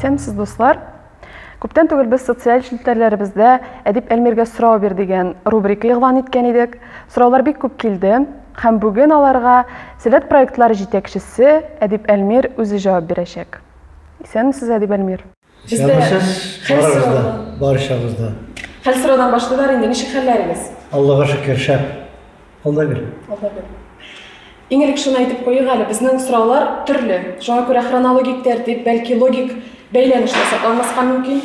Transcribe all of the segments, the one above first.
Исәнмесез, дуслар! Күптән түгел без социаль челтәрләребездә Әдип Әлмиргә сорау бир дигән рубрика игълан иткән идек. Сораулар бик күп килде һәм бүген аларга Сәләт проектлары җитәкчесе Әдип Әлмир үзе җавап бирәчәк. Исәнмесез, Әдип Әлмир! Бездә Язмышыз хәл барыгыз да, сораудан. барчагыз да. Хәл сораудан башлыйлар инде. Ничек хәлләрегез? Аллага шөкер, шәп. Алда гел. Алда бер. Иң элек шуны әйтеп куйыйк әле, безнең сораулар төрле. Шуңа күрә хронологик тәртип, бәлки логик бәйләнешле сакланмаска мөмкин.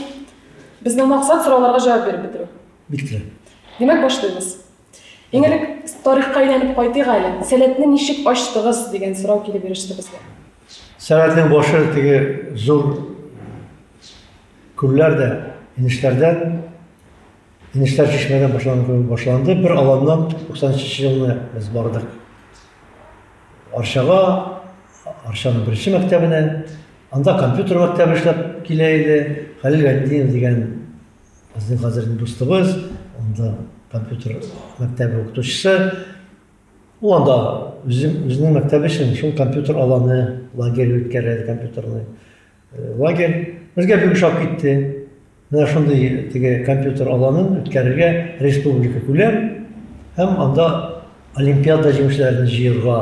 Безнең максат сорауларга җавап биреп бетерү. Бик тә. Димәк, башлыйбыз. Иң элек тарихка әйләнеп кайтыйк әле. Сәләтне ничек ачтыгыз дигән сорау килеп иреште безгә. Сәләтнең башы теге зур күлләр дә, инешләрдән, инешләр чишмәдән башланды, башланды. Бер аланнан 93 елны без бардык. Арчага, Арчаның беренче мәктәбенә, анда компьютер мәктәбе эшләп килә иде. Хәлил Гайнетдинов дигән Безнең хәзерге дустыбыз, анда компьютер мәктәбе укытучысы, ул анда үзенең мәктәбе өчен шул компьютер аланы, лагерь үткәрә, компьютерный э, лагерь. Безгә бик ошап китте. Менә шундый теге компьютер аланын үткәрергә республика күләм һәм анда олимпиада җиңүчеләрен җыерга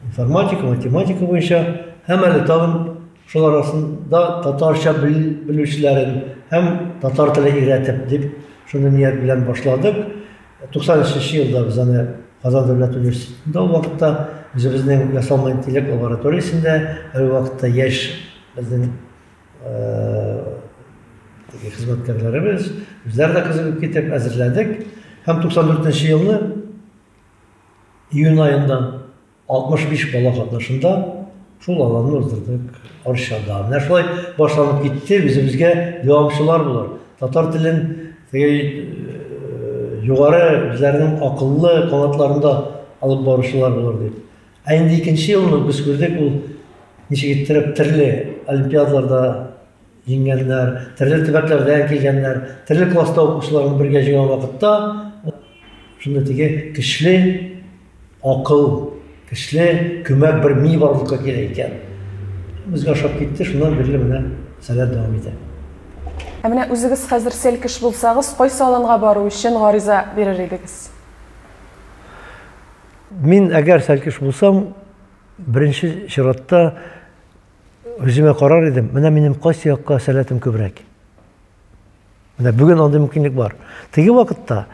информатика, математика буенча һәм әле тагын шул арасында татарча белүчеләрен һәм татар теле өйрәтеп дип шуны ният белән башладык. 93 елда без аны Казан дәүләт университетында ул вакытта үзебезнең ясалма интеллект лабораториясендә һәр вакытта яшь безнең хезмәткәрләребез, үзләр дә кызыгып китеп әзерләдек һәм 94 елны июнь аенда 65 бала катнашында шул аланны уздырдык Арчада. Менә шулай башланып китте, үзебезгә дәвамчылар булыр. Татар телен э, югары үзләренең акыллы канатларында алып баручылар булыр дип. Ә инде икенче елны без күрдек, ул ничек иттереп төрле олимпиадаларда Җиңгәннәр, төрле төбәкләрдән килгәннәр, төрле класста укучыларны бергә җыйган вакытта шундый теге көчле акыл, көчле көмәк бер ми барлыкка килә икән. Безгә ошап китте, шуннан бирле менә сәләт дәвам итә. Ә менә үзегез хәзер селкеш булсагыз, кайсы аланга бару өчен гариза бирер идегез? Мин әгәр сәлкеш булсам, беренче чиратта Үземә карар идем, менә минем кайсы якка сәләтем күбрәк. Менә бүген андый мөмкинлек бар. Теге вакытта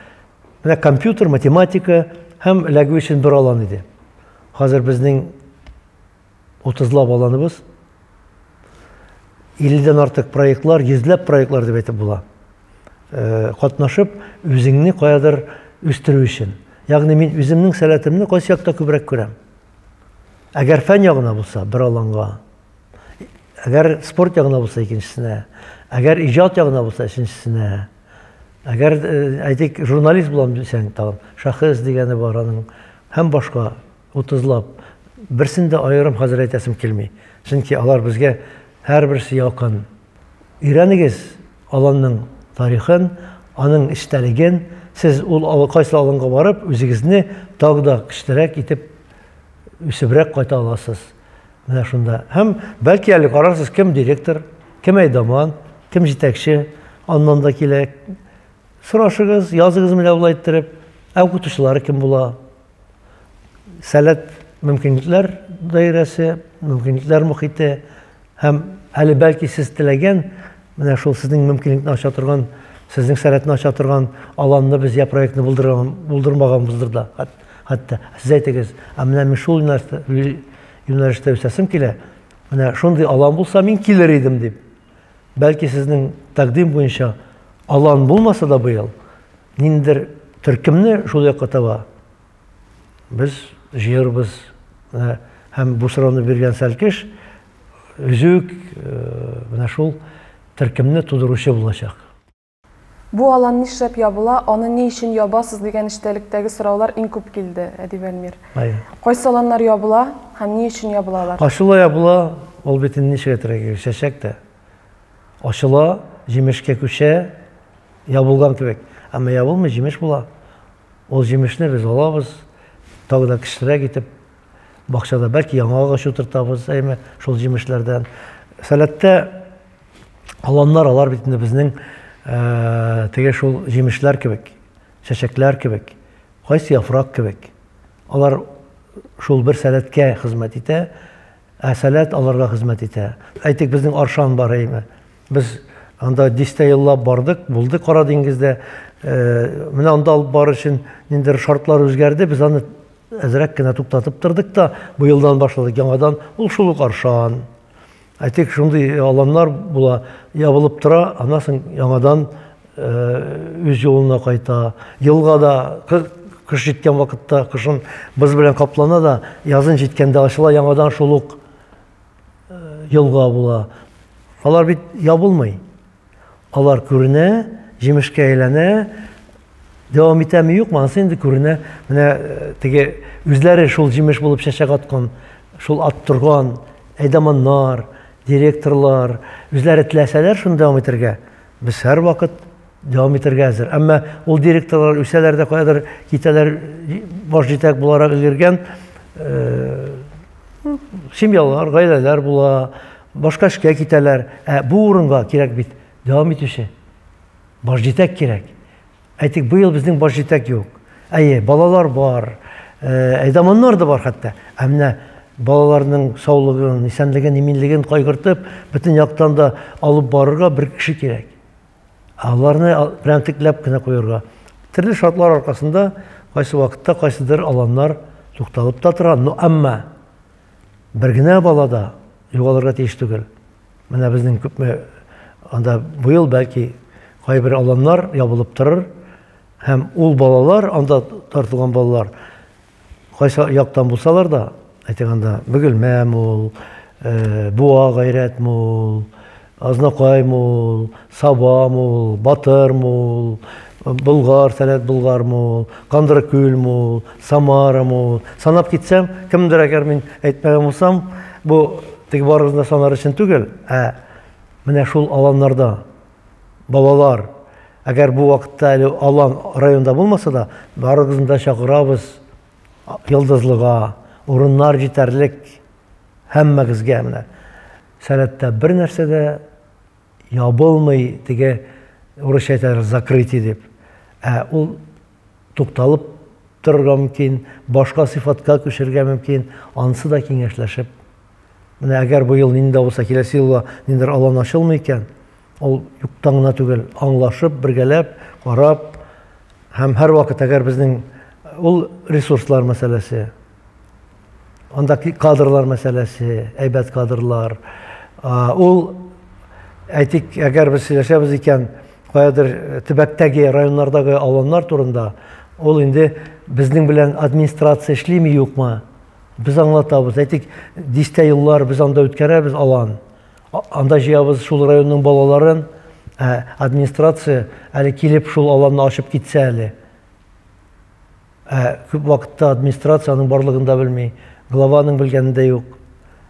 менә компьютер, математика һәм эләгү өчен бер алан иде. Хәзер безнең 30 лап аланыбыз 50-дән артык проектлар, 100 проектлар дип әйтеп була. Э, катнашып, үзеңне каядыр үстерү өчен. Ягъни мин үземнең сәләтемне кайсы якта күбрәк күрәм? Әгәр фән ягына булса, бер аланга. Әгәр спорт ягына булса, икенчесенә. Әгәр иҗат ягына булса, өченчесенә. Әгәр, э, әйтик, журналист булам дисәң, тагын шәхес дигәне бар аның һәм башка 30лап. Берсен дә аерым хәзер әйтәсем килми. Чөнки алар безгә һәрберсе якын. Өйрәнегез аланның тарихын, аның эчтәлеген, сез ул алы кайсы аланга барып, үзегезне тагы да көчлерәк итеп үсебрәк кайта аласыз. Менә шунда. Һәм бәлки әле карарсыз, кем директор, кем әйдаман, кем җитәкче, аннан да килә. Сорашыгыз, языгыз менә ул әйттереп, ә укытучылары кем була? сәләт мөмкинлекләр даирәсе, мөмкинлекләр мөхите һәм әле бәлки сез теләгән менә шул сезнең мөмкинлекне ача торган, сезнең сәләтне ача торган аланны без я проектны булдырмаганбыздыр да. Хәтта сез әйтегез, ә менә мин шул юнәлештә үсәсем килә. Менә шундый алан булса, мин килер идем дип. Бәлки сезнең тәкъдим буенча алан булмаса да быел, ниндидер төркемне шул якка таба без җыербыз. Менә һәм бу сорауны биргән Сәлкеш өзек э, менә шул төркемне тудыручы булачак. Бу алан нишләп ябыла, аны ни өчен ябасыз дигән эчтәлектәге сораулар иң күп килде, Әдип Әлмир. Кайсы аланнар ябыла һәм ни өчен ябыла алар? Ачыла ябыла, ул бит инде ничек әйтергә кирәк, чәчәк тә. Ачыла, җимешкә күчә, ябылган кебек. Әмма ябылмый, җимеш була. Ул җимешне без алабыз, тагы да кечерәк итеп, бакчада бәлки яңа агач утыртабыз, әйме, шул җимешләрдән. Сәләттә Аланнар алар бит инде безнең э, теге шул җимешләр кебек, чәчәкләр кебек, кайсы яфрак кебек. Алар шул бер сәләткә хезмәт итә, ә сәләт аларга хезмәт итә. Әйтик, безнең Аршан бар әйме. Без анда дистә еллап бардык, булды Кара диңгездә. Э, менә анда алып бар өчен ниндидер шартлар үзгәрде, без аны әзрәк кенә туктатып тордык та, быелдан башладык яңадан. Ул шул ук Аршан. Ә тик шундый аланнар була, ябылып тора, аннан соң яңадан үз юлына кайта. Елга да кыш җиткән вакытта кышын боз белән каплана да, язын җиткәндә ачыла, яңадан шул ук елга була. Алар бит ябылмый. Алар күренә, җимешкә әйләнә, дәвам итәме юкмы, анысы инде күренә. Менә э, теге үзләре шул җимеш булып чәчәк аткан, шул ат торган әйдаманнар, директорлар, үзләре теләсәләр шуны дәвам итәргә, без һәрвакыт дәвам итәргә әзер. Әмма ул директорлар үсәләр дә каядыр китәләр, баш җитәк буларак өлгергән э, семьялар, гаиләләр була, башка эшкә китәләр. Ә бу урынга кирәк бит дәвам итүче баш җитәк кирәк. Әйтик, быел безнең баш җитәк юк. Әйе, балалар бар, э, әйдаманнар да бар хәтта. Ә менә балаларның саулыгын, исәнлеген, иминлеген кайгыртып, бөтен яктан да алып барырга бер кеше кирәк. Аларны прәнтекләп кенә куярга. Төрле шартлар аркасында кайсы вакытта кайсыдыр аланнар тукталып та тора, но әмма бер генә бала да югалырга тиеш түгел. Менә безнең күпме анда быел бәлки кайбер аланнар ябылып торыр һәм ул балалар анда тартылган балалар Кайсы яктан булсалар да, әйтегәндә, Бөгелмә мул, э, Буа гайрәт мул, Азнакай мул, Саба мул, Батыр мул, Болгар, Сәләт Болгар мул, Кандыркүл мул, Самара мул. Санап китсәм, кемдер әгәр мин әйтмәгән булсам, бу теге барыгызны санар өчен түгел, ә менә шул аланнарда Балалар, әгәр бу вакытта әле алан районда булмаса да, барыгызны да чакырабыз Йолдызлыга. Урыннар җитәрлек һәммәгезгә менә. Сәләттә бер нәрсә дә ябылмый, теге урысча әйтәләр закрытие дип. Ә ул тукталып торырга мөмкин, башка сыйфатка күчерергә мөмкин, анысы да киңәшләшеп. Менә әгәр бу ел нинди булса, киләсе елга ниндидер алан ачылмый икән, ул юктан гына түгел, аңлашып, бергәләп, карап һәм һәрвакыт әгәр безнең ул ресурслар мәсьәләсе, Анда кадрлар мәсьәләсе, әйбәт кадрлар. Ул әйтик, әгәр без сөйләшәбез икән, каядыр э, төбәктәге, районнардагы аланнар турында, ул инде безнең белән администрация эшлиме юкмы? Без аңлатабыз. Әйтик, дистә еллар без анда үткәрәбез алан. Анда җыябыз шул районның балаларын, ә администрация әле килеп шул аланны ачып китсә әле. Ә күп вакытта администрация аның барлыгын да белми, глава аның белгәне дә юк.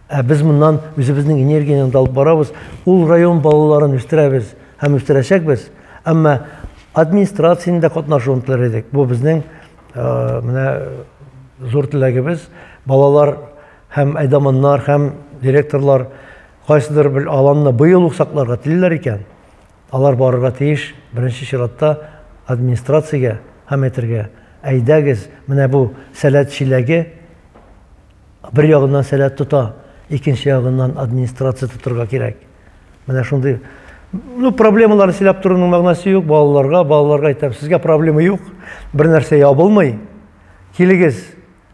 Ә без моннан үзебезнең энергияне дә алып барабыз, ул район балаларын үстерәбез һәм үстерәчәкбез. Әмма администрациянең дә катнашуын теләр идек. Бу безнең менә зур теләгебез. Балалар һәм әйдаманнар һәм директорлар кайсыдыр бер аланны быел ук сакларга телиләр икән. Алар барырга тиеш, беренче чиратта, администрациягә һәм әйтергә, Әйдәгез, менә бу сәләт чиләге бер ягыннан сәләт тота, икенче ягыннан администрация тотырга кирәк. Менә шундый ну, проблемаларны сөйләп торуның мәгънәсе юк, балаларга, балаларга әйтәм, сезгә проблема юк, бер нәрсә ябылмый. Килегез,